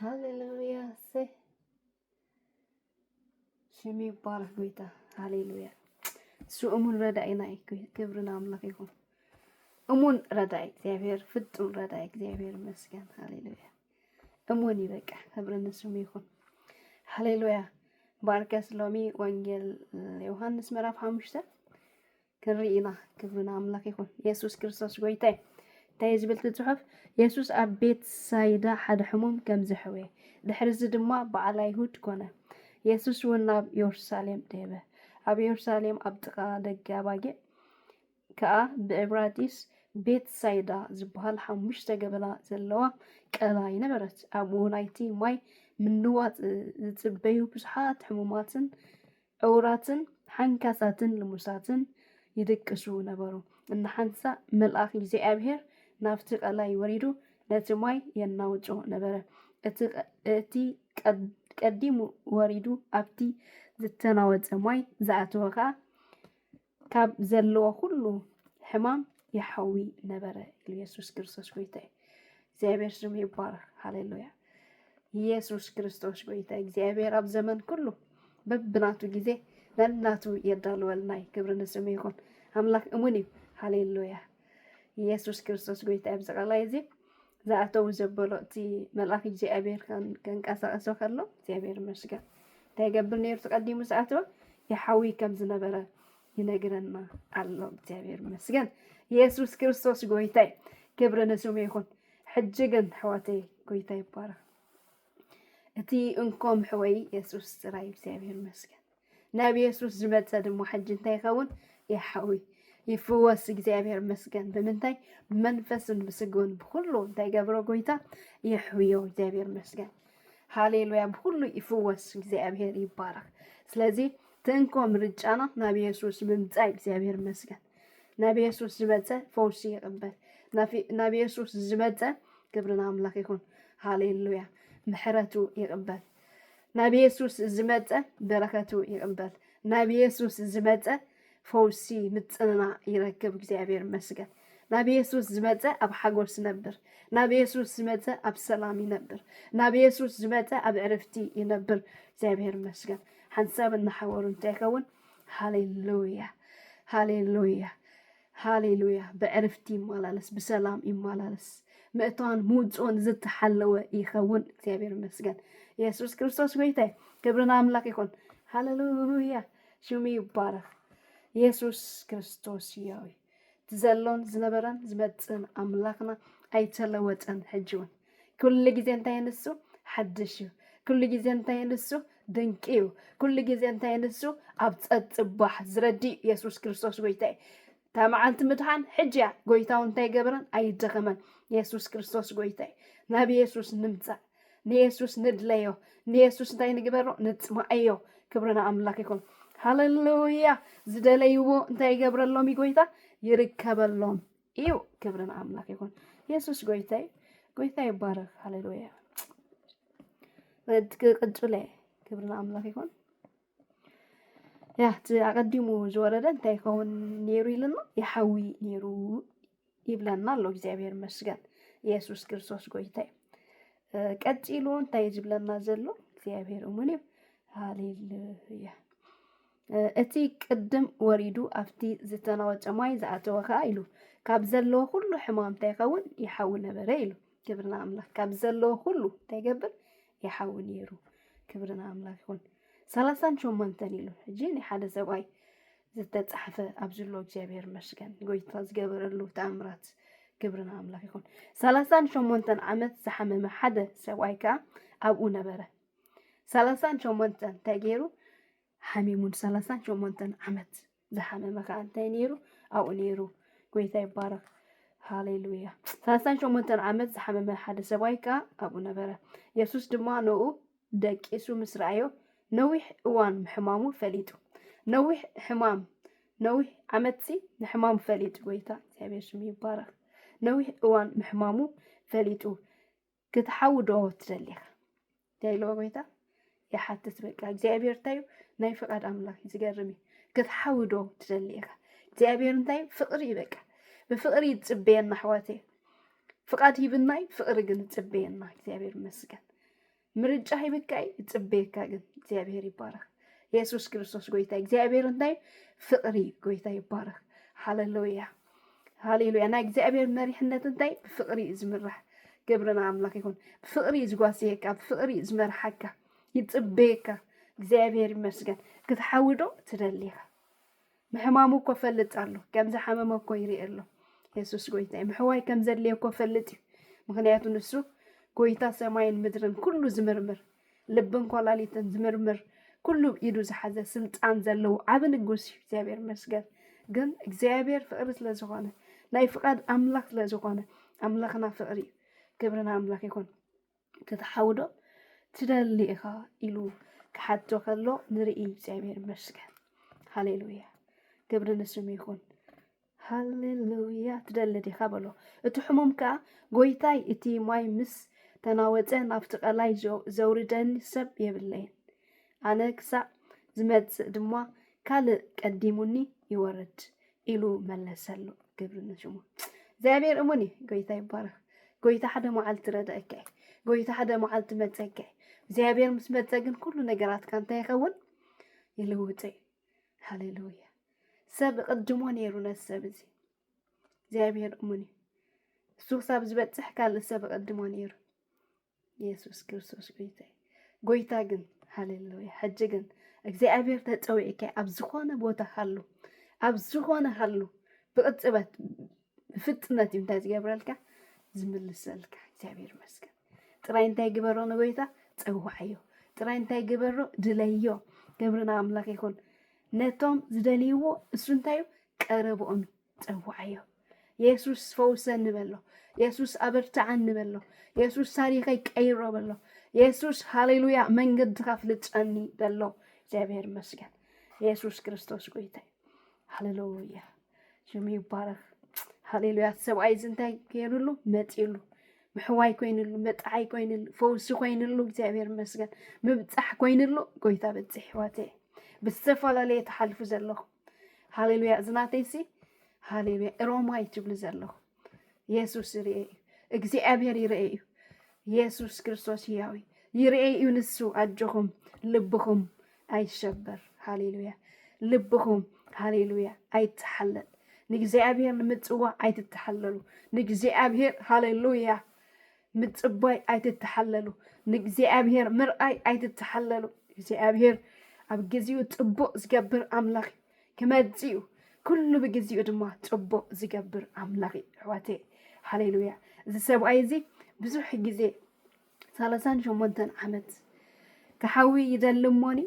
ሃሌሉያ ሰይ ስም ይባረክ ጎይታ ሃሌሉያ። እሱ እሙን ረዳኢና እዩ። ክብሪ ንኣምላኽ ይኹን። እሙን ረዳኢ እግዚኣብሔር፣ ፍጹም ረዳኢ እግዚኣብሔር ይመስገን። ሃሌሉያ እሙን እዩ። በቃ ክብሪ ንስሙ ይኹን። ሃሌሉያ ባርከስ ሎሚ ወንጌል ዮሐንስ ምዕራፍ ሓሙሽተ ክንርኢ ኢና። ክብሪ ንኣምላኽ ይኹን። የሱስ ክርስቶስ ጐይታ እዩ። እንታይ እዩ ዝብል እቲ ጽሑፍ? የሱስ ኣብ ቤት ሳይዳ ሓደ ሕሙም ከም ዘሕወየ፣ ድሕርዚ ድማ በዓል ኣይሁድ ኮነ። የሱስ እውን ናብ የሩሳሌም ደየበ። ኣብ የሩሳሌም ኣብ ጥቓ ደገ ኣባጊዕ ከኣ ብዕብራይስ ቤት ሳይዳ ዝበሃል ሓሙሽተ ገበላ ዘለዋ ቀላይ ነበረት። ኣብኡ ናይቲ ማይ ምንዋጽ ዝጽበዩ ብዙሓት ሕሙማትን ዕዉራትን ሓንካሳትን ልሙሳትን ይድቅሱ ነበሩ። እንዳ ሓንሳእ መልኣኽ እግዚኣብሄር ናብቲ ቀላይ ወሪዱ ነቲ ማይ የናውጾ ነበረ። እቲ ቀዲሙ ወሪዱ ኣብቲ ዝተናወጸ ማይ ዝኣተወ ኸኣ ካብ ዘለዎ ኩሉ ሕማም ይሓዊ ነበረ ኢሉ የሱስ ክርስቶስ ጎይታ እዩ። እግዚኣብሔር ስሙ ይባረክ። ሃሌሉያ ኢየሱስ ክርስቶስ ጎይታ እግዚኣብሔር ኣብ ዘመን ኩሉ በብናቱ ግዜ ነናቱ የዳልወልና እዩ። ክብሪ ንስሙ ይኹን። ኣምላክ እሙን እዩ። ሃሌሉያ ኢየሱስ ክርስቶስ ጎይታ እዩ። ኣብዚ ቃላይ እዚ ዝኣተዉ ዘበሎ እቲ መልኣኽ እግዚኣብሔር ከንቀሳቐሶ ከሎ እግዚኣብሔር ይመስገን እንታይ ይገብር ነይሩ ተቀዲሙ ዝኣተወ የሓዊ ከም ዝነበረ ይነግረና ኣሎ እግዚኣብሔር ይመስገን ኢየሱስ ክርስቶስ ጎይታይ ክብሪ ንስሙ ይኹን ሕጂ ግን ሕወተይ ጎይታ ይባረኽ እቲ እንኮም ሕወይ ኢየሱስ ጥራይ እግዚኣብሔር ይመስገን ናብ የሱስ ዝመጸ ድማ ሕጂ እንታይ ይኸውን? ይሓውይ ይፍወስ። እግዚኣብሔር መስገን ብምንታይ ብመንፈስን ብስግን ብኩሉ እንታይ ገብሮ ጎይታ ይሕውዮ። እግዚኣብሔር መስገን ሃሌሉያ። ብኩሉ ይፍወስ። እግዚኣብሔር ይባረክ። ስለዚ ትንኮ ምርጫና ናብ የሱስ ምምፃእ እግዚኣብሔር መስገን። ናብ የሱስ ዝመፀ ፈውሲ ይቕበል። ናብ የሱስ ዝመፀ ክብርን ኣምላኽ ይኹን። ሃሌሉያ። ምሕረቱ ይቕበል። ናብ የሱስ ዝመጸ በረከቱ ይቕበል። ናብ የሱስ ዝመጸ ፈውሲ ምጽንና ይረክብ። እግዚኣብሔር ይመስገን። ናብ የሱስ ዝመጸ ኣብ ሓጎስ ይነብር። ናብ የሱስ ዝመጸ ኣብ ሰላም ይነብር። ናብ የሱስ ዝመጸ ኣብ ዕርፍቲ ይነብር። እግዚኣብሔር ይመስገን። ሓንሳብ እናሓወሩ እንታይ ይኸውን? ሃሌሉያ ሃሌሉያ ሃሌሉያ ብዕርፍቲ ይመላለስ ብሰላም ይመላለስ ምእታውን ምውፅኦን ዝተሓለወ ይኸውን እግዚኣብሔር ይመስገን ኢየሱስ ክርስቶስ ጎይታይ ክብርን ኣምላክ ይኹን ሃሌሉያ ሽሙ ይባረክ ኢየሱስ ክርስቶስ ያዊ ትዘሎን ዝነበረን ዝመፅን ኣምላክና ኣይተለወጠን ሕጂውን ኩሉ ግዜ እንታይ ንሱ ሓድሽ እዩ ኩሉ ግዜ እንታይ ንሱ ድንቂ እዩ ኩሉ ግዜ እንታይ ንሱ ኣብ ጸጽባሕ ዝረድእ የሱስ ክርስቶስ ጎይታ እዩ እታ መዓልቲ ምድሓን ሕጂ እያ ጎይታው እንታይ ገበረን ኣይደኸመን የሱስ ክርስቶስ ጎይታ እዩ ናብ የሱስ ንምጻእ ንየሱስ ንድለዮ ንየሱስ እንታይ ንግበሮ ንጽማኣዮ ክብሪ ንኣምላኽ ይኹን ሃለሉያ ዝደለይዎ እንታይ ይገብረሎም እዩ ጎይታ ይርከበሎም እዩ ክብሪ ንኣምላክ ይኹን የሱስ ጎይታይ ጎይታ ይባረክ ሃሌሉያ ቅጭለ ክብሪ ንኣምላክ ይኹን ያ እቲ ኣቀዲሙ ዝወረደ እንታይ ይኸውን ነይሩ ኢልና ይሓዊ ነይሩ ይብለና ኣሎ እግዚኣብሔር መስገን የሱስ ክርስቶስ ጎይታይ ቀፂሉ እንታይ ዝብለና ዘሎ እግዚኣብሔር እሙን እዩ ሃሌሉያ እቲ ቅድም ወሪዱ ኣብቲ ዝተናወጸ ማይ ዝኣተወ ከኣ ኢሉ ካብ ዘለዎ ኩሉ ሕማም እንታይ ይኸውን ይሓዊ ነበረ ኢሉ ክብሪ ንኣምላኽ ካብ ዘለዎ ኩሉ እንታይ ይገብር ይሓዊ ነይሩ ክብሪ ንኣምላኽ ይኹን ሰላሳን ሸሞንተን ኢሉ ሕጂ ናይ ሓደ ሰብኣይ ዝተጻሕፈ ኣብ ዝሎ እግዚኣብሔር መስገን ጎይታ ዝገበረሉ ተኣምራት ክብሪ ንኣምላኽ ይኹን ሰላሳን ሸሞንተን ዓመት ዝሓመመ ሓደ ሰብኣይ ከዓ ኣብኡ ነበረ ሰላሳን ሸሞንተን እንታይ ገይሩ ሓሚሙ ንሰላሳን ሸሞንተን ዓመት ዝሓመመ ከዓ እንታይ ነይሩ ኣብኡ ነይሩ ጎይታ ይባረክ ሃሌሉያ ሰላሳን ሸሞንተን ዓመት ዝሓመመ ሓደ ሰብኣይ ከዓ ኣብኡ ነበረ የሱስ ድማ ንኡ ደቂሱ ምስ ረኣዮ ነዊሕ እዋን ምሕማሙ ፈሊጡ ነዊሕ ሕማም ነዊሕ ዓመትሲ ንሕማሙ ፈሊጡ ጎይታ እግዚኣብሔር ስሙ ይባረክ ነዊሕ እዋን ምሕማሙ ፈሊጡ ክትሓዊ ዶ ትደሊ ኢኻ ዳይለዎ ጎይታ ይሓትት በቃ እግዚኣብሔር እንታይ እዩ ናይ ፍቃድ ኣምላክ እዩ ዝገርም እዩ ክትሓዊ ዶ ትደሊ ኢኻ እግዚኣብሔር እንታይ እዩ ፍቅሪ እዩ በቃ ብፍቅሪ እዩ ዝፅበየና ኣሕዋት እዩ ፍቃድ ሂብና እዩ ፍቅሪ ግን ዝፅበየና እግዚኣብሔር ይመስገን ምርጫ ሂብካ እዩ ዝፅበየካ ግን እግዚኣብሔር ይባረክ የሱስ ክርስቶስ ጎይታ እዩ። እግዚኣብሔር እንታይ እዩ ፍቅሪ እዩ ጎይታ ይባረክ ሃለሉያ ሃሌሉያ ናይ እግዚኣብሔር መሪሕነት እንታይ ብፍቅሪ እዩ ዝምራሕ ግብርና ኣምላክ ይኹን ብፍቅሪ እዩ ዝጓስየካ ብፍቅሪ እዩ ዝመርሓካ ይፅበየካ እግዚኣብሔር ይመስገን ክትሓውዶ ትደሊኻ ምሕማሙ እኮ ፈልጥ ኣሎ ከም ዝሓመመ እኮ ይርኢ ኣሎ የሱስ ጎይታ እዩ ምሕዋይ ከም ዘድልየ እኮ ፈልጥ እዩ ምክንያቱ ንሱ ጎይታ ሰማይን ምድርን ኩሉ ዝምርምር ልብን ኮላሊትን ዝምርምር ኩሉ ኢዱ ዝሓዘ ስልጣን ዘለዎ ዓብ ንጉስ እዩ እግዚኣብሔር መስገን ግን እግዚኣብሔር ፍቅሪ ስለዝኾነ ናይ ፍቃድ ኣምላኽ ስለዝኾነ ኣምላኽና ፍቅሪ እዩ ክብርና ኣምላኽ ይኹን ክትሓውዶ ትደሊ ኢኻ ኢሉ ክሓቶ ከሎ ንርኢ እግዚኣብሔር መስገን ሃሌሉያ ክብሪ ንስሙ ይኹን ሃሌ ሉያ ትደሊ ዲኻ በሎ። እቲ ሕሙም ከኣ ጎይታይ እቲ ማይ ምስ ተናወጸ ናብቲ ቀላይ ዘውርደኒ ሰብ የብለይን ኣነ ክሳዕ ዝመጽእ ድማ ካልእ ቀዲሙኒ ይወርድ ኢሉ መለሰሉ። ግብሪ ንሽሙ እግዚኣብሔር እሙን እዩ። ጎይታ ይባረኽ። ጎይታ ሓደ መዓልቲ ረድእካ እዩ። ጎይታ ሓደ መዓልቲ መጸካ እዩ። እግዚኣብሔር ምስ መጸ ግን ኩሉ ነገራትካ እንታይ ይኸውን ይልውጥ እዩ። ሃሌሉያ ሰብ ይቕድሞ ነይሩ ነዚ ሰብ እዚ እግዚኣብሔር እሙን እዩ እሱ ክሳብ ዝበፅሕ ካልእ ሰብ ይቕድሞ ነይሩ ኢየሱስ ክርስቶስ ጎይታ እዩ ጎይታ ግን ሃሌሉያ ሕጂ ግን እግዚኣብሔር ተፀዊዕካ ኣብ ዝኾነ ቦታ ሃሉ ኣብ ዝኾነ ሃሉ ብቕፅበት ብፍጥነት እዩ እንታይ ዝገብረልካ ዝምልሰልካ እግዚኣብሔር ይመስገን ጥራይ እንታይ ግበሮ ንጎይታ ፀዋዓዮ ጥራይ እንታይ ግበሮ ድለዮ ክብርና ኣምላክ ይኹን ነቶም ዝደልይዎ እሱ እንታይ እዩ ቀረብኦም ፀዋዓዮ የሱስ ፈውሰኒ በሎ የሱስ ኣበርትዓኒ በሎ የሱስ ታሪኸይ ቀይሮ በሎ የሱስ ሃሌሉያ መንገድካ ፍልጠኒ በሎ እግዚኣብሔር ይመስገን የሱስ ክርስቶስ ጎይታ እዩ ሃሌሉያ ሽሙ ይባረክ ሃሌሉያ ሰብኣይ እዚ እንታይ ገይሩሉ መፂሉ ምሕዋይ ኮይኑሉ መጣዓይ ኮይኑሉ ፈውሲ ኮይኑሉ እግዚኣብሔር ይመስገን ምብፃሕ ኮይኑሉ ጎይታ በፅሕ ህይወት እየ ብዝተፈላለየ ተሓልፉ ዘለኹ ሃሌሉያ እዚ ናተይሲ ሃሌሉያ ሮማይ ትብሉ ዘለኹ የሱስ ይርኤ እዩ እግዚኣብሔር ይርኤ እዩ የሱስ ክርስቶስ ህያው እዩ ይርኤ እዩ ንሱ ኣጆኹም ልብኹም ኣይሸበር ሃሌሉያ ልብኹም ሃሌሉያ ኣይተሓለል ንእግዚኣብሔር ንምፅዋዕ ኣይትተሓለሉ ንእግዚኣብሔር ሃሌሉያ ምፅባይ ኣይትተሓለሉ ንእግዚኣብሔር ምርኣይ ኣይትተሓለሉ እግዚኣብሔር ኣብ ግዚኡ ፅቡቅ ዝገብር ኣምላኽ እዩ ክመጽእ እዩ ኩሉ ብግዜኡ ድማ ጽቡቕ ዝገብር ኣምላኽ እዩ ኣሕዋተይ ሃሌሉያ እዚ ሰብኣይ እዚ ብዙሕ ግዜ ሰላሳን ሸሞንተን ዓመት ክሓዊ ይደሊ እሞኒ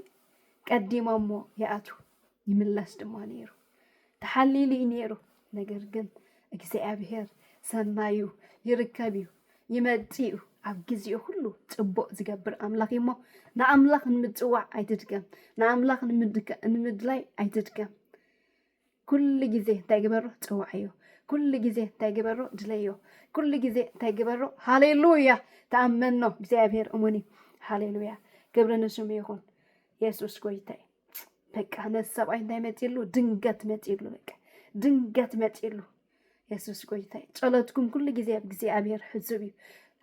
ቀዲሞሞ ይኣቱ ይምለስ ድማ ነይሩ ተሓሊሉ እዩ ነይሩ ነገር ግን እግዚኣብሔር ሰናዩ ይርከብ እዩ ይመጽእ እዩ ኣብ ግዜኡ ሁሉ ጽቡቕ ዝገብር ኣምላኽ እዩ እሞ ንኣምላኽ ንምጽዋዕ ኣይትድከም ንኣምላኽ ንምድከ- ንምድላይ ኣይትድከም ኩሉ ግዜ እንታይ ግበሮ ጽዋዕዮ ኩሉ ግዜ እንታይ ግበሮ ድለዮ ኩሉ ግዜ እንታይ ግበሮ ሃሌሉያ ተኣመኖ እግዚኣብሔር እሙን እዩ ሃሌሉያ ክብሪ ንስሙ ይኹን የሱስ ጎይታ እዩ በቃ ነዚ ሰብኣይ እንታይ መፂሉ ድንገት መፂሉ በቃ ድንገት መፂሉ የሱስ ጎይታ እዩ ጸሎትኩም ኩሉ ግዜ ኣብ እግዚኣብሔር ሕሱብ እዩ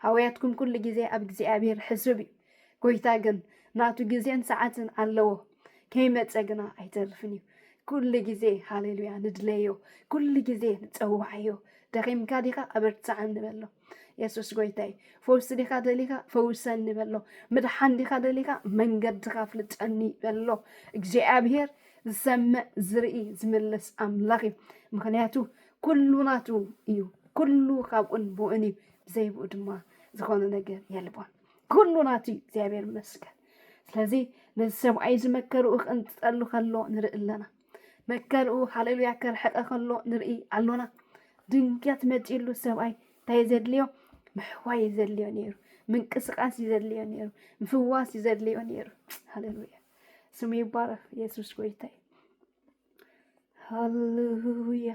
ሃውያትኩም ኩሉ ግዜ ኣብ እግዚኣብሔር ሕሱብ እዩ ጎይታ ግን ናቱ ግዜን ሰዓትን ኣለዎ ከይመፀ ግና ኣይተርፍን እዩ ኩሉ ግዜ ሃሌሉያ ንድለዮ ኩሉ ግዜ ንፀዋዓዮ ደኺምካ ዲኻ ኣበርትዓኒ በሎ የሱስ ጎይታይ ፈውሲ ዲኻ ደሊኻ ፈውሰኒ በሎ ምድሓን ዲኻ ደሊኻ መንገድኻ ፍልጠኒ በሎ እግዚኣብሄር ዝሰምዕ ዝርኢ ዝምልስ ኣምላኽ እዩ ምክንያቱ ኩሉ ናቱ እዩ ኩሉ ካብኡን ብኡን እዩ ብዘይብኡ ድማ ዝኾነ ነገር የልቦን ኩሉ ናቱ እዩ እግዚኣብሄር ይመስገን ስለዚ ነዚ ሰብኣይ ዝመከርኡ ክንትጠሉ ከሎ ንርኢ ኣለና መከርኡ ሃሌሉያ ከርሕቐ ከሎ ንርኢ ኣሎና። ድንገት መጺሉ ሰብኣይ እንታይ ዘድልዮ ምሕዋይ እዩ ዘድልዮ ነይሩ፣ ምንቅስቓስ እዩ ዘድልዮ ነይሩ፣ ምፍዋስ እዩ ዘድልዮ ነይሩ። ሃሌሉያ ስሙ ይባረኽ የሱስ ጎይታ እዩ። ሃሌሉያ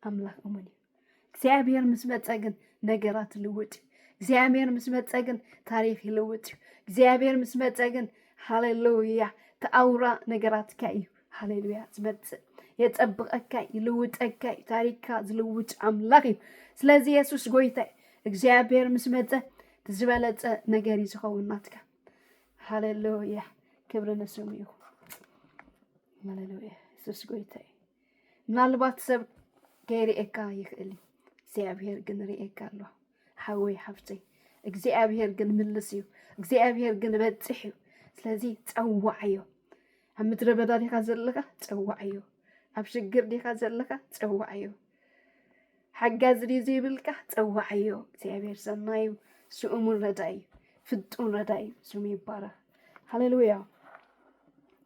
ኣምላኽ እሙን እዩ። እግዚኣብሔር ምስ መፀ ግን ነገራት ልውጥ እዩ። እግዚኣብሔር ምስ መፀ ግን ታሪክ ይልውጥ እዩ። እግዚኣብሔር ምስ መፀ ግን ሃሌሉያ ተኣውራ ነገራትካ እዩ ሃሌሉያ ዝመፅእ የፀብቐካ እዩ፣ ይልውጠካ እዩ። ታሪክካ ዝልውጥ ኣምላኽ እዩ። ስለዚ የሱስ ጎይታ እዩ። እግዚኣብሔር ምስ መፀ ዝበለፀ ነገር እዩ ዝኸውን ናትካ። ሃሌሉያ ክብሪ ንስሙ ይኹን። ሃሌሉያ የሱስ ጎይታ እዩ። ምናልባት ሰብ ከይርእየካ ይኽእል እዩ እግዚኣብሔር ግን ርእየካ ኣሎ ሓወይ ሓፍተይ እግዚኣብሔር ግን ምልስ እዩ እግዚኣብሔር ግን በፅሕ እዩ ስለዚ ፀዋዕዮ ኣብ ምድረ በዳ ዲኻ ዘለኻ ፀዋዕዮ ኣብ ሽግር ዲኻ ዘለኻ ፀዋዕዮ ሓጋዚ ድዩ ዘይብልካ ፀዋዕዮ እግዚኣብሔር ሰናይ እዩ ስኡሙን ረዳይ እዩ ፍጡን ረዳይ እዩ ስሙ ይባረክ ሃሌሉያ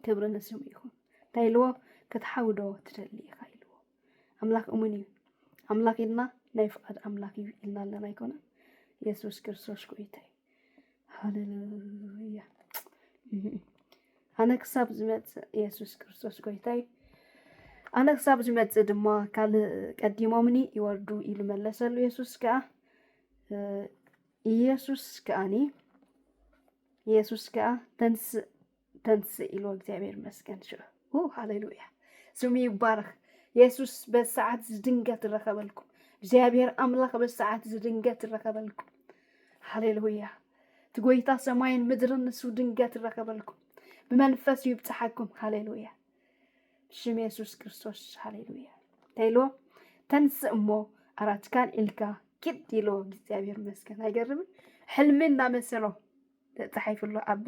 ክብሪ ንስሙ ይኹን እንታይ ኢልዎ ክትሓዊ ዶ ትደሊ ኢኻ ኢልዎ ኣምላኽ እሙን እዩ ኣምላኽ ኢልና ናይ ፍቓድ ኣምላኽ እዩ ኢልና ኣለና ኣይኮነን የሱስ ክርስቶስ ጎይታ እዩ ሃሌሉያ ኣነ ክሳብ ዝመፅእ የሱስ ክርስቶስ ጎይታ እዩ ኣነ ክሳብ ዝመፅእ ድማ ካልእ ቀዲሞምኒ ይወርዱ ኢሉ መለሰሉ የሱስ ከዓ ኢየሱስ ከኣኒ ኢየሱስ ከኣ ተንስእ ተንስእ ኢልዎ እግዚኣብሔር ይመስገን ሽዑ ኡ ሃሌሉያ ስሙ ይባረኽ የሱስ በዚ ሰዓት እዚ ድንገት ረኸበልኩም እግዚኣብሔር ኣምላኽ በዚ ሰዓት እዚ ድንገት ረኸበልኩም ሃሌሉያ እቲ ጎይታ ሰማይን ምድርን ንሱ ድንገት ረኸበልኩም ብመንፈሱ ይብፅሓኩም ሃሌሉያ ሽም የሱስ ክርስቶስ ሃሌሉያ ተይሎ ተንስእ እሞ ኣራትካን ኢልካ ኪድ ኢልዎ እግዚኣብሔር ይመስገን ኣይገርምን ሕልሚ እንዳመሰሎ ተጻሒፉ ኣሎ ኣብ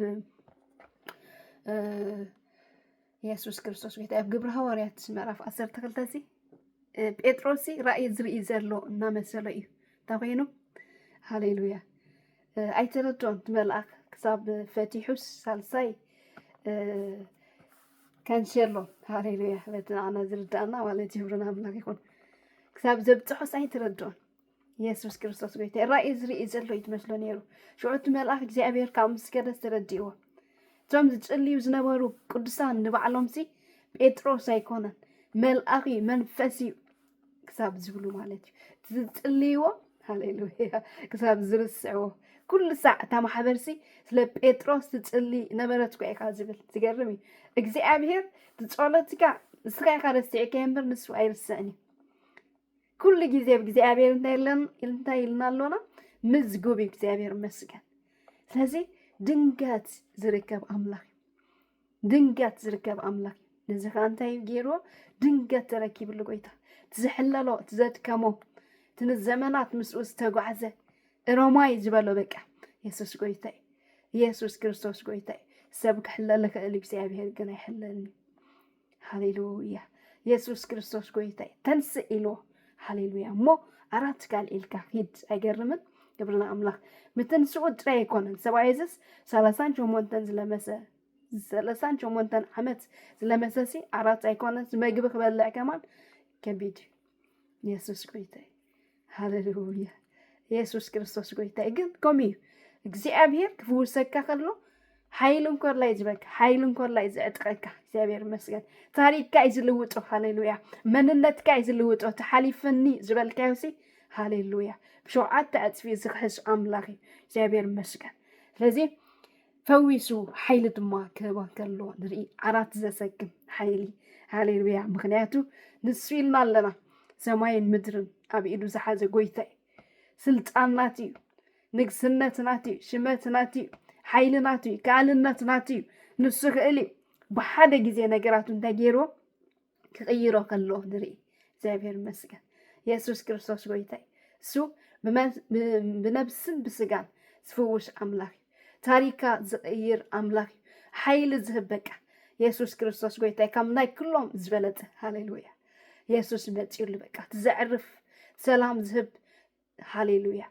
የሱስ ክርስቶስ ጎይታ ኣብ ግብሪ ሃዋርያት ምዕራፍ ዓሰርተ ክልተ እዚ ጴጥሮስ እዚ ራእይ ዝርኢ ዘሎ እናመሰሎ እዩ እንታ ኮይኑ ሃሌሉያ ኣይተረድኦን እቲ መልኣኽ ክሳብ ፈቲሑስ ሳልሳይ ከንሸሎ ሃሌሉያ በቲ ንዓና ዝርዳእና ማለት ይህብሩና ኣምላኽ ይኹን ክሳብ ዘብፅሖስ ኣይተረድኦን የሱስ ክርስቶስ ጎይታ ራእይ ዝርኢ ዘሎ እዩ ትመስሎ ነይሩ ሽዑ እቲ መልኣኽ እግዚኣብሔር ካብ ምስ ከደ ተረዲእዎ እቶም ዝጽልዩ ዝነበሩ ቅዱሳን ንባዕሎም ሲ ጴጥሮስ ኣይኮነን መልኣኽ እዩ መንፈስ እዩ ክሳብ ዝብሉ ማለት እዩ እቲ ዝጽልይዎ ሃሌሉያ ክሳብ ዝርስዕዎ ኩሉ ሳዕ እታ ማሕበር ሲ ስለ ጴጥሮስ ትጽሊ ነበረት እኳ ኢኻ ዝብል ዝገርም እዩ እግዚኣብሔር እቲ ጸሎትካ ንስኻ ኢኻ ረሲዕካዮ እምበር ንሱ ኣይርስዕን እዩ ኩሉ ግዜ ብ እግዚኣብሔር እንታይ ኣሎን እንታይ ኢልና ኣሎና ምዝጉብ እዩ እግዚኣብሔር ይመስገን ስለዚ ድንገት ዝርከብ ኣምላኽ እዩ ድንገት ዝርከብ ኣምላኽ እዩ ነዚ ከዓ እንታይ እዩ ገይርዎ ድንገት ተረኪብሉ ጎይታ እቲ ዝሕለሎ እቲ ዘድከሞ እቲ ንዘመናት ምስኡ ዝተጓዕዘ እሮማይ ዝበሎ በቃ የሱስ ጎይታ እዩ ኢየሱስ ክርስቶስ ጎይታ እዩ ሰብ ክሕለል ይኽእል እዩ እግዚኣብሔር ግን ኣይሕለልን እዩ ሃሌሉያ የሱስ ክርስቶስ ጎይታይ ተንስእ ኢልዎ ሃሌሉያ እሞ ኣራት ትካል ኢልካ ሂድ ኣይገርምን ክብሪ ንኣምላኽ ምትንስኡ ጥራይ ኣይኮነን ሰብኣይ እዝስ ሰላሳን ሸሞንተን ዝለመሰ ሰላሳን ሸሞንተን ዓመት ዝለመሰሲ ኣራት ኣይኮነን መግቢ ክበልዕ ከማን ከቢድ እዩ የሱስ ጎይታ እዩ ሃለሉያ የሱስ ክርስቶስ ጎይታ እዩ ግን ከምኡ እዩ እግዚኣብሔር ክፍውሰካ ከሎ ሓይሉ እንኮላ እዩ ዝበካ ሓይሉ እንኮላ እዩ ዝዕጥቀካ እግዚኣብሔር ይመስገን ታሪክካ እዩ ዝልውጦ ሃሌሉያ መንነትካ እዩ ዝልውጦ ተሓሊፈኒ ዝበልካዮ ሲ ሃሌሉያ ብሸውዓተ ዕፅፊ ዝክሕስ ኣምላኽ እዩ እግዚኣብሔር ይመስገን ስለዚ ፈዊሱ ሓይሊ ድማ ክህባ ከሎ ንርኢ ዓራት ዘሰክም ሓይሊ ሃሌሉያ ምክንያቱ ንሱ ኢልና ኣለና ሰማይን ምድርን ኣብ ኢዱ ዝሓዘ ጎይታ እዩ ስልጣን ናት እዩ ንግስነት ናት እዩ ሽመት ናት እዩ ሓይሊ ናት እዩ ከኣልነት ናት እዩ ንሱ ክእል እዩ ብሓደ ግዜ ነገራቱ እንታይ ገይርዎ ክቕይሮ ከሎ ንርኢ እግዚኣብሔር ይመስገን የሱስ ክርስቶስ ጎይታይ እሱ ብነብስን ብስጋን ዝፍውስ ኣምላኽ እዩ ታሪካ ዝቕይር ኣምላኽ እዩ ሓይሊ ዝህብ በቃ የሱስ ክርስቶስ ጎይታይ ካብ ናይ ኩሎም ዝበለፀ ሃሌሉያ የሱስ መፂኡሉ በቃ ትዘዕርፍ ሰላም ዝህብ ሃሌሉያ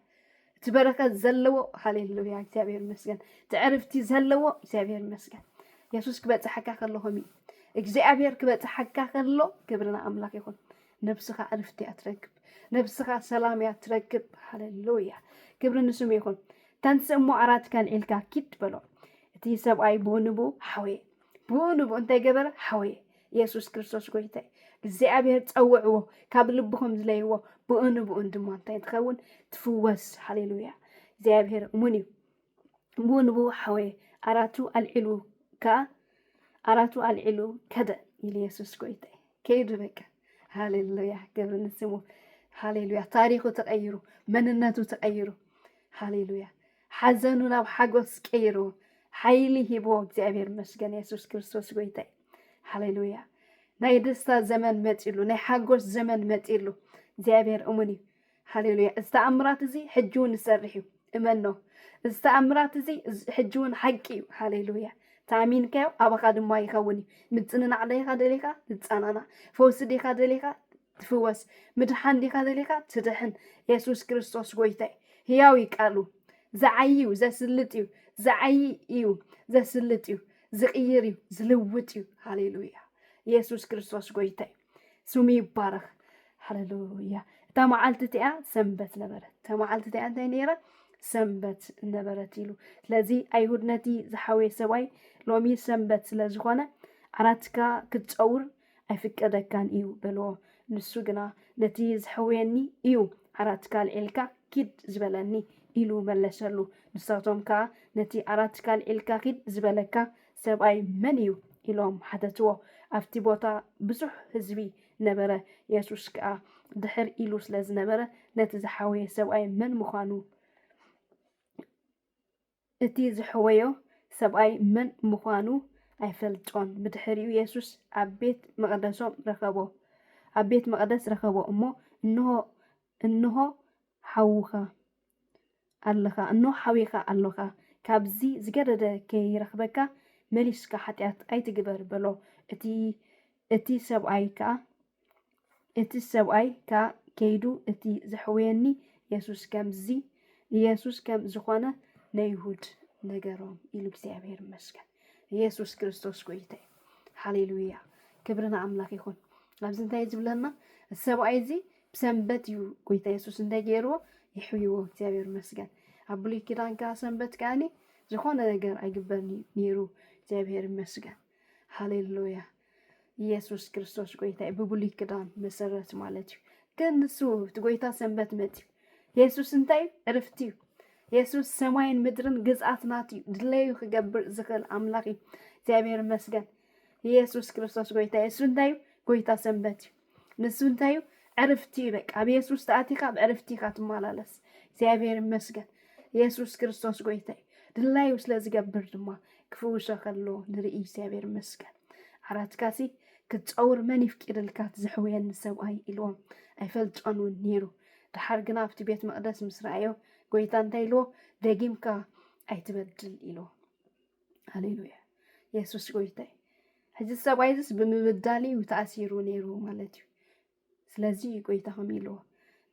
እቲ በረከት ዘለዎ ሃሌሉያ እግዚኣብሔር ይመስገን እቲ ዕርፍቲ ዘለዎ እግዚኣብሔር ይመስገን የሱስ ክበፅሐካ ከሎ ከምኡ እዩ እግዚኣብሔር ክበፅሐካ ከሎ ክብሪ ንኣምላክ ይኹን ነብስኻ ዕርፍቲ እያ ትረክብ ነብስኻ ሰላም እያ ትረክብ ሃሌሉያ ክብሪ ንስሙ ይኹን ተንስእ እሞ ኣራትካን ዒልካ ኪድ በሎ እቲ ሰብኣይ ብኡ ንብኡ ሓወየ ብኡ ንብኡ እንታይ ገበረ? ሓወየ። የሱስ ክርስቶስ ጐይታይ እግዚኣብሔር ጸውዕዎ፣ ካብ ልብኹም ዝለይዎ፣ ብኡ ንብኡን ድማ እንታይ ትኸውን? ትፍወስ። ሃሌሉያ! እግዚኣብሔር እሙን እዩ። ብኡ ንብኡ ሓወየ፣ ኣራቱ ኣልዒሉ ከኣ ኣራቱ ኣልዒሉ ከደ ኢሉ የሱስ ጎይታይ ከይዱ በቃ ሃሌሉያ ክብሪ ንስሙ ሃሌሉያ ታሪኹ ተቀይሩ መንነቱ ተቀይሩ ሃሌሉያ ሓዘኑ ናብ ሓጎስ ቀይሩ ሓይሊ ሂብዎ እግዚኣብሔር ይመስገን የሱስ ክርስቶስ ጎይታ እዩ ሃሌሉያ ናይ ደስታ ዘመን መጺሉ ናይ ሓጎስ ዘመን መጺሉ እግዚኣብሔር እሙን እዩ ሃሌሉያ እዚ ተኣምራት እዚ ሕጂ እውን ይሰርሕ እዩ እመኖ እዚ ተኣምራት እዚ ሕጂ እውን ሓቂ እዩ ሃሌሉያ ተኣሚንካዮ ኣባኻ ድማ ይኸውን እዩ ምጽንናዕ ደኻ ደሊኻ ትጸናናዕ ፈውሲ ዲኻ ደሊኻ ትፍወስ ምድሓን ዲካ ደሊካ ትድሕን የሱስ ክርስቶስ ጎይታ እዩ ህያው እዩ ቃሉ ዝዓይ እዩ ዘስልጥ እዩ ዝዓይ እዩ ዘስልጥ እዩ ዝቅይር እዩ ዝልውጥ እዩ ሃሌሉያ የሱስ ክርስቶስ ጎይታ እዩ ስሙ ይባረክ ሃሌሉያ እታ መዓልቲ እቲኣ ሰንበት ነበረት እታ መዓልቲ እቲኣ እንታይ ነይራ ሰንበት ነበረት ኢሉ ስለዚ ኣይሁድ ነቲ ዝሓወየ ሰብኣይ ሎሚ ሰንበት ስለ ዝኾነ ዓራትካ ክትፀውር ኣይፍቀደካን እዩ በልዎ ንሱ ግና ነቲ ዘሕውየኒ እዩ ዓራትካ ኣልዒልካ ኪድ ዝበለኒ ኢሉ መለሰሉ ንሳቶም ከኣ ነቲ ዓራትካ ኣልዒልካ ኪድ ዝበለካ ሰብኣይ መን እዩ ኢሎም ሓተትዎ ኣብቲ ቦታ ብዙሕ ህዝቢ ነበረ የሱስ ከኣ ድሕር ኢሉ ስለ ዝነበረ ነቲ ዝሓወየ ሰብኣይ መን ምዃኑ እቲ ዘሕወዮ ሰብኣይ መን ምዃኑ ኣይፈልጦን። ብድሕሪኡ የሱስ ኣብ ቤት መቕደሶም ረኸቦ። ኣብ ቤት መቕደስ ረኸቦ እሞ፣ እንሆ፣ እንሆ ሓውኻ ኣለኻ፣ እንሆ ሓዊኻ ኣሎኻ፣ ካብዚ ዝገደደ ከይረኽበካ፣ መሊስካ ሓጢኣት ኣይትግበር በሎ። እቲ እቲ ሰብኣይ ከኣ እቲ ሰብኣይ ከኣ ከይዱ እቲ ዘሕውየኒ የሱስ ከምዚ ኢየሱስ ከም ዝኾነ ነይሁድ ነገሮም ኢሉ እግዚኣብሔር ይመስገን ኢየሱስ ክርስቶስ ጎይታ እዩ ሃሌሉያ ክብሪ ንኣምላኽ ይኹን ኣብዚ እንታይ ዝብለና እቲ ሰብኣይ እዚ ብሰንበት እዩ ጎይታ የሱስ እንታይ ገይርዎ ይሕይዎ እግዚኣብሔር ይመስገን ኣብ ብሉይ ኪዳን ከዓ ሰንበት ከዓኒ ዝኾነ ነገር ኣይግበር ነይሩ እግዚኣብሔር ይመስገን ሃሌሉያ ኢየሱስ ክርስቶስ ጎይታ እዩ ብብሉይ ክዳን መሰረት ማለት እዩ ግን ንሱ እቲ ጎይታ ሰንበት መፅዩ የሱስ እንታይ እዩ ዕርፍቲ እዩ የሱስ ሰማይን ምድርን ግዝኣት ናት እዩ ድለዩ ክገብር ዝኽእል ኣምላኽ እዩ እግዚኣብሔር ይመስገን ኢየሱስ ክርስቶስ ጎይታ እዩ እሱ እንታይ እዩ ጎይታ ሰንበት እዩ ንሱ እንታይ እዩ? ዕርፍቲ እዩ። በቃ ኣብ የሱስ ተኣቲካ ኣብ ዕርፍቲ ኢካ ትመላለስ። እግዚኣብሔር ይመስገን። የሱስ ክርስቶስ ጎይታ እዩ። ድላዩ ስለ ዝገብር ድማ ክፍውሶ ከሎ ንርኢ እግዚኣብሔር ይመስገን። ዓራትካሲ ክትፀውር መን ይፍቂድልካ ዝሕውየኒ ሰብኣይ ኢልዎም ኣይፈልጦን እውን ነይሩ። ድሓር ግና ኣብቲ ቤት መቅደስ ምስ ረኣዮ ጎይታ እንታይ ኢልዎ ደጊምካ ኣይትበድል ኢልዎ። ሃሌሉያ የሱስ ጎይታይ ሕዚ ሰብኣይ እዚስ ብምብዳል እዩ ተኣሲሩ ነይሩ ማለት እዩ ስለዚ እዩ ጎይታ ከም ኢልዎ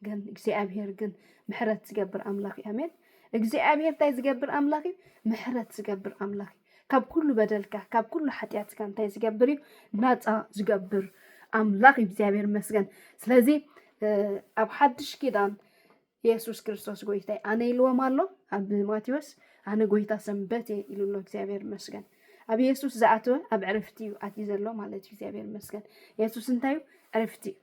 ግን እግዚኣብሄር ግን ምሕረት ዝገብር ኣምላኽ እዩ ኣሜን እግዚኣብሄር እንታይ ዝገብር ኣምላኽ እዩ ምሕረት ዝገብር ኣምላኽ እዩ ካብ ኩሉ በደልካ ካብ ኩሉ ሓጢኣትካ እንታይ ዝገብር እዩ ናፃ ዝገብር ኣምላኽ እዩ እግዚኣብሄር ይመስገን ስለዚ እ፣ ኣብ ሓድሽ ኪዳን የሱስ ክርስቶስ ጎይታይ ኣነ ኢልዎም ኣሎ ኣብ ማቴዎስ ኣነ ጎይታ ሰንበት እየ ኢሉ ኣሎ እግዚኣብሔር መስገን ኣብ የሱስ ዝኣተወ ኣብ ዕርፍቲ እዩ ኣትዩ ዘሎ ማለት እዩ እግዚኣብሔር መስገን የሱስ እንታይ እዩ ዕርፍቲ እዩ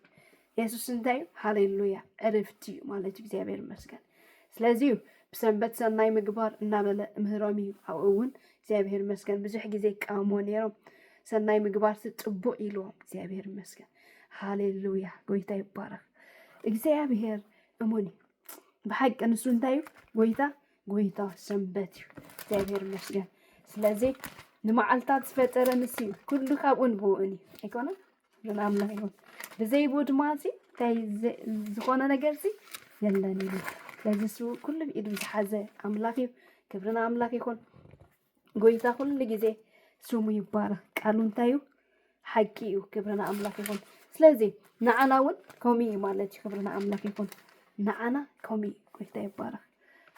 የሱስ እንታይ እዩ ሃሌሉያ ዕርፍቲ እዩ ማለት እዩ እግዚኣብሔር መስገን ስለዚ እዩ ብሰንበት ሰናይ ምግባር እናበለ ምህሮም እዩ ኣብኡ እውን እግዚኣብሔር መስገን ብዙሕ ግዜ ይቃወምዎ ነይሮም ሰናይ ምግባር ጽቡቅ ኢልዎም እግዚኣብሔር መስገን ሃሌሉያ ጎይታ ይባረክ እግዚኣብሔር እሙን እዩ ብሓቂ ንሱ እንታይ እዩ ጎይታ ጎይታ ሰንበት እዩ እግዚኣብሔር ይመስገን ስለዚ ንመዓልታት ዝፈጠረ ንሱ እዩ ኩሉ ካብኡን ብኡን እዩ ኣይኮነን ንኣምና ይኹን ብዘይ ብኡ ድማ እዚ እንታይ ዘ- ዝኾነ ነገር እዚ የለን እዩ ስለዚ እሱ ኩሉ ብኢዱ ዝሓዘ ኣምላኽ እዩ ክብሪ ንኣምላኽ ይኹን ጎይታ ኩሉ ግዜ ስሙ ይባረክ ቃሉ እንታይ እዩ ሓቂ እዩ ክብሪ ንኣምላክ ይኹን ስለዚ ንዓና እውን ከምኡ እዩ ማለት እዩ ክብሪ ንኣምላክ ይኹን ንዓና ከምኡ እዩ ጎይታ ይባረክ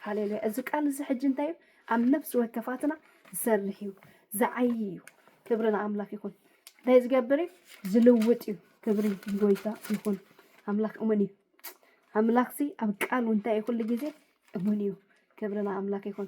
ሃሌሉያ እዚ ቃል እዚ ሕጂ እንታይ እዩ ኣብ ነፍሲ ወከፋትና ዝሰርሕ እዩ ዝዓይ እዩ ክብሪ ንኣምላክ ይኹን እንታይ ዝገብር እዩ ዝልውጥ እዩ ክብሪ ጎይታ ይኹን ኣምላክ እሙን እዩ ኣምላክሲ ኣብ ቃሉ እንታይ እዩ ኩሉ ግዜ እሙን እዩ ክብሪ ንኣምላክ ይኹን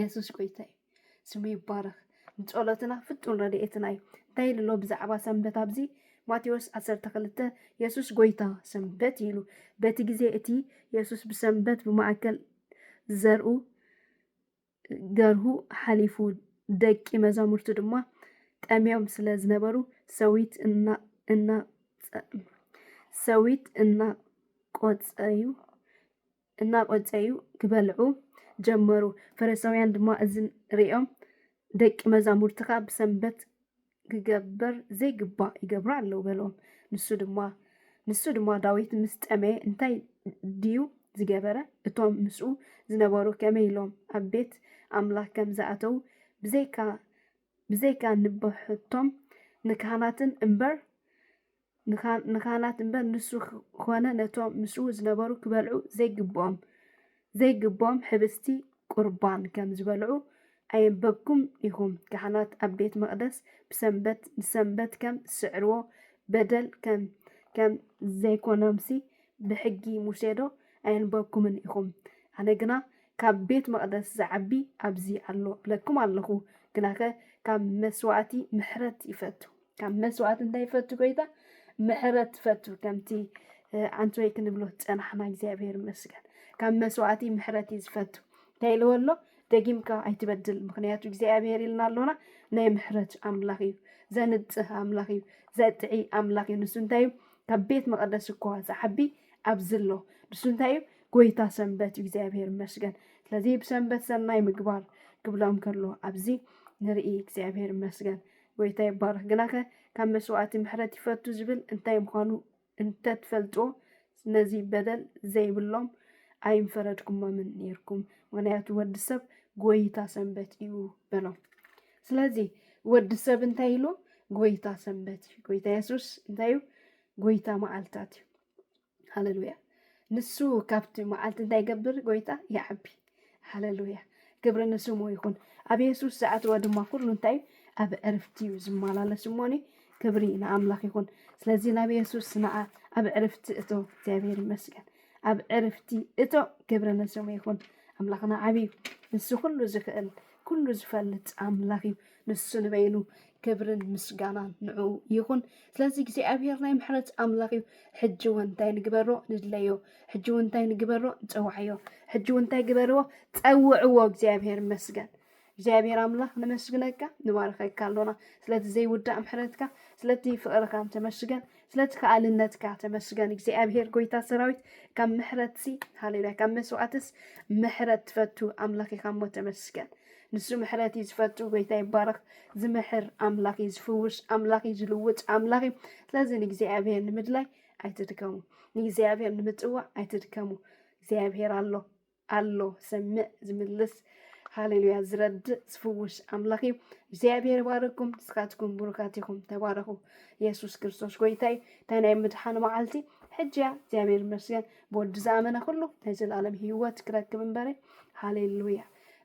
የሱስ ጎይታ እዩ ስሙ ይባረኽ ንጸሎትና ፍጡን ረድኤትና እዩ እንታይ ኢሉ ኣሎ ብዛዕባ ሰንበት ኣብዚ ማቴዎስ 12 የሱስ ጎይታ ሰንበት ኢሉ በቲ ግዜ እቲ የሱስ ብሰንበት ብማእከል ዝዘርኡ ገርሁ ሓሊፉ ደቂ መዛሙርቱ ድማ ጠምዮም ስለ ዝነበሩ ሰዊት እና እና ሰዊት እናቆጸዩ እናቖጸዩ ኪበልዑ ጀመሩ። ፈሪሳውያን ድማ እዚ ርእዮም፣ ደቂ መዛሙርትኻ ብሰንበት ኪግበር ዘይግባእ ይገብሩ ኣለዉ በሎም። ንሱ ድማ ንሱ ድማ ዳዊት ምስ ጠመየ እንታይ ድዩ ዝገበረ? እቶም ምስኡ ዝነበሩ ከመይ ኢሎም ኣብ ቤት ኣምላኽ ከም ዝኣተዉ ብዘይካ ብዘይካ ንበሕቶም ንካህናትን እምበር ንካህናት እምበር ንሱ ዀነ ነቶም ምስኡ ዝነበሩ ኪበልዑ ዘይግብኦም ዘይግብኦም ኅብስቲ ቍርባን ከም ዝበልዑ ኣየንበብኩምን ኢኹም? ካህናት ኣብ ቤት መቕደስ ብሰንበት ንሰንበት ከም ዚስዕርዎ በደል ከም ዘይኰኖምሲ ብሕጊ ሙሴዶ ኣየንበብኩምን ኢኹም? ኣነ ግና ካብ ቤት መቕደስ ዚዓቢ ኣብዚ ኣሎ እብለኩም ኣለኹ። ግናኸ ካብ መሥዋዕቲ ምሕረት ይፈቱ። ካብ መስዋእቲ እንታይ ይፈቱ ጎይታ ምሕረት ትፈቱ ከምቲ ኣንቲ ወይ ክንብሎ ፀናሕና እግዚኣብሔር ይመስገን ካብ መስዋእቲ ምሕረት እዩ ዝፈቱ እንታይ ኢልዎ ኣሎ ደጊምካ ኣይትበድል ምክንያቱ እግዚኣብሔር ኢልና ኣሎና ናይ ምሕረት ኣምላኽ እዩ ዘንጽህ ኣምላኽ እዩ ዘጥዒ ኣምላኽ እዩ ንሱ እንታይ እዩ ካብ ቤት መቐደስ እኳ ዝዓቢ ኣብዚ ኣሎ ንሱ እንታይ እዩ ጎይታ ሰንበት እዩ እግዚኣብሔር ይመስገን ስለዚ ብሰንበት ሰናይ ምግባር ክብሎም ከሎ ኣብዚ ንርኢ እግዚኣብሔር ይመስገን ጐይታ ይባረኽ። ግናኸ ካብ መስዋእቲ ምሕረት ይፈቱ ዝብል እንታይ ምዃኑ እንተትፈልጥዎ ነዚ በደል ዘይብሎም ኣይምፈረድኩሞምን ኔርኩም፣ ምኽንያቱ ወዲ ሰብ ጐይታ ሰንበት እዩ በሎም። ስለዚ ወዲ ሰብ እንታይ ኢሉ? ጐይታ ሰንበት እዩ። ጐይታ የሱስ እንታይ እዩ? ጐይታ መዓልታት እዩ። ሃለሉያ ንሱ ካብቲ መዓልቲ እንታይ ይገብር ጎይታ ይዓቢ ሃለሉያ ክብሪ ንስሙ ይኹን ኣብ የሱስ ዝኣተወ ድማ ኩሉ እንታይ እዩ ኣብ ዕርፍቲ እዩ ዝመላለስ እሞኒ ክብሪ ንኣምላኽ ይኹን ስለዚ ናብ የሱስ ንዓ ኣብ ዕርፍቲ እቶ እግዚኣብሔር ይመስገን ኣብ ዕርፍቲ እቶ ክብሪ ንስሙ ይኹን ኣምላኽና ዓብዩ ንሱ ኩሉ ዝኽእል ኩሉ ዝፈልጥ ኣምላኽ እዩ ንሱ ንበይኑ ክብርን ምስጋናን ንዑ ይኹን። ስለዚ እግዚኣብሄር ናይ ምሕረት ኣምላኽ እዩ። ሕጂ እውን እንታይ ንግበሮ ንድለዮ፣ ሕጂ እውን እንታይ ንግበሮ ንፀዋዕዮ፣ ሕጂ እውን እንታይ ግበርዎ ፀውዕዎ። እግዚኣብሄር መስገን እግዚኣብሄር ኣምላኽ ነመስግነካ ንባረኸካ ኣሎና ስለቲ ዘይውዳእ ምሕረትካ ስለቲ ፍቕርኻን ተመስገን። ስለቲ ከኣልነትካ ተመስገን እግዚኣብሄር ጎይታ ሰራዊት ካብ ምሕረትሲ ሃሌሉያ ካብ መስዋእትስ ምሕረት ትፈቱ ኣምላኽ ኢኻ እሞ ተመስገን ንሱ ምሕረት እዩ ዝፈቱ ጎይታ ይባረኽ ዝምሕር ኣምላኽ እዩ ዝፍውስ ኣምላኽ እዩ ዝልውጥ ኣምላኽ እዩ ስለዚ ንእግዚኣብሄር ንምድላይ ኣይትድከሙ ንእግዚኣብሄር ንምፅዋዕ ኣይትድከሙ እግዚኣብሄር ኣሎ ኣሎ ዝሰምዕ ዝምልስ ሃሌሉያ ዝረድእ ዝፍውስ ኣምላኽ እዩ እግዚኣብሔር ባረኩም ንስኻትኩም ብሩካት ኢኹም ተባረኹ የሱስ ክርስቶስ ጎይታ እዩ እታ ናይ ምድሓን መዓልቲ ሕጂ እያ እግዚኣብሔር ይመስገን ብወዲ ዝኣመነ ኩሉ ናይ ዘለኣለም ህይወት ክረክብ እምበረ ሃሌሉያ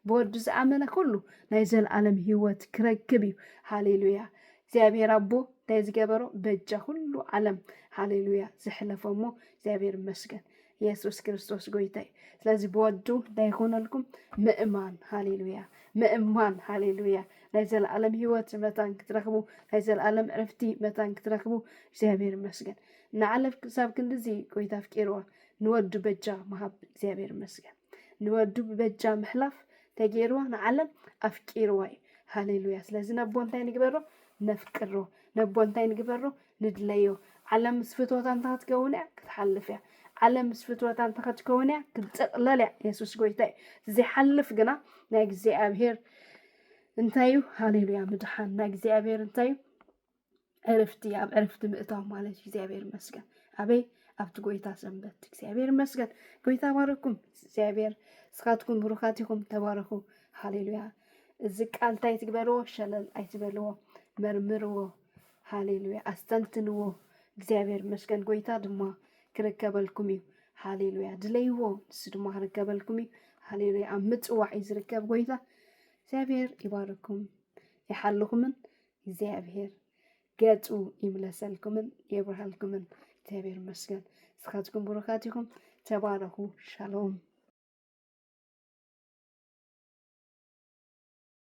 ብወዲ ዝኣመነ ኩሉ ናይ ዘለኣለም ህይወት ክረክብ እዩ ሃሌሉያ እግዚኣብሔር ኣቦ እንታይ ዝገበሮ በጃ ኩሉ ዓለም ሃሌሉያ ዘሕለፎ እሞ እግዚኣብሔር ይመስገን የሱስ ክርስቶስ ጎይታ እዩ። ስለዚ ብወዱ እንታይ ይኹነልኩም? ምእማን ሃሌሉያ፣ ምእማን ሃሌሉያ። ናይ ዘለኣለም ህይወት መታን ክትረኽቡ፣ ናይ ዘለኣለም ዕርፍቲ መታን ክትረኽቡ እግዚኣብሔር ይመስገን። ንዓለም ክሳብ ክንድዚ ጎይታ ኣፍቂርዋ ንወዱ በጃ ምሃብ እግዚኣብሔር ይመስገን። ንወዱ ብበጃ ምሕላፍ ተገይርዋ ንዓለም ኣፍቂርዋ እዩ። ሃሌሉያ። ስለዚ ነቦ እንታይ ንግበሮ? ነፍቅሮ። ነቦ እንታይ ንግበሮ? ንድለዮ። ዓለም ምስ ፍትወታ እንተ ኸትከውን እያ ክትሓልፍ እያ። ዓለም ምስ ፍትወታ እንተ ኸትከውን እያ ክትጥቕለል እያ። የሱስ ጎይታ እዩ። እቲ ዘይሓልፍ ግና ናይ እግዚኣብሄር እንታይ እዩ? ሃሌሉያ ምድሓን ናይ እግዚኣብሄር እንታይ እዩ? ዕርፍቲ ኣብ ዕርፍቲ ምእታው ማለት እዩ እግዚኣብሔር ይመስገን ኣበይ ኣብቲ ጎይታ ሰንበት እግዚኣብሔር ይመስገን ጎይታ ባረኩም እግዚኣብሔር ስኻትኩም ብሩኻት ኢኹም ተባረኹ ሃሌሉያ እዚ ቃል እንታይ ትግበርዎ ሸለል ኣይትበልዎ መርምርዎ ሃሌሉያ ኣስተንትንዎ እግዚኣብሔር ይመስገን ጎይታ ድማ ክርከበልኩም እዩ ሃሌሉያ ድለይዎ ንሱ ድማ ክርከበልኩም እዩ ሃሌሉያ ኣብ ምፅዋዕ እዩ ዝርከብ ጎይታ እግዚኣብሔር ይባርኩም ይሓልኹምን እግዚኣብሔር ገፁ ይምለሰልኩምን የብርሃልኩምን እግዚኣብሔር ይመስገን እስኻትኩም ብሩኻት ኢኹም ተባረኹ ሻሎም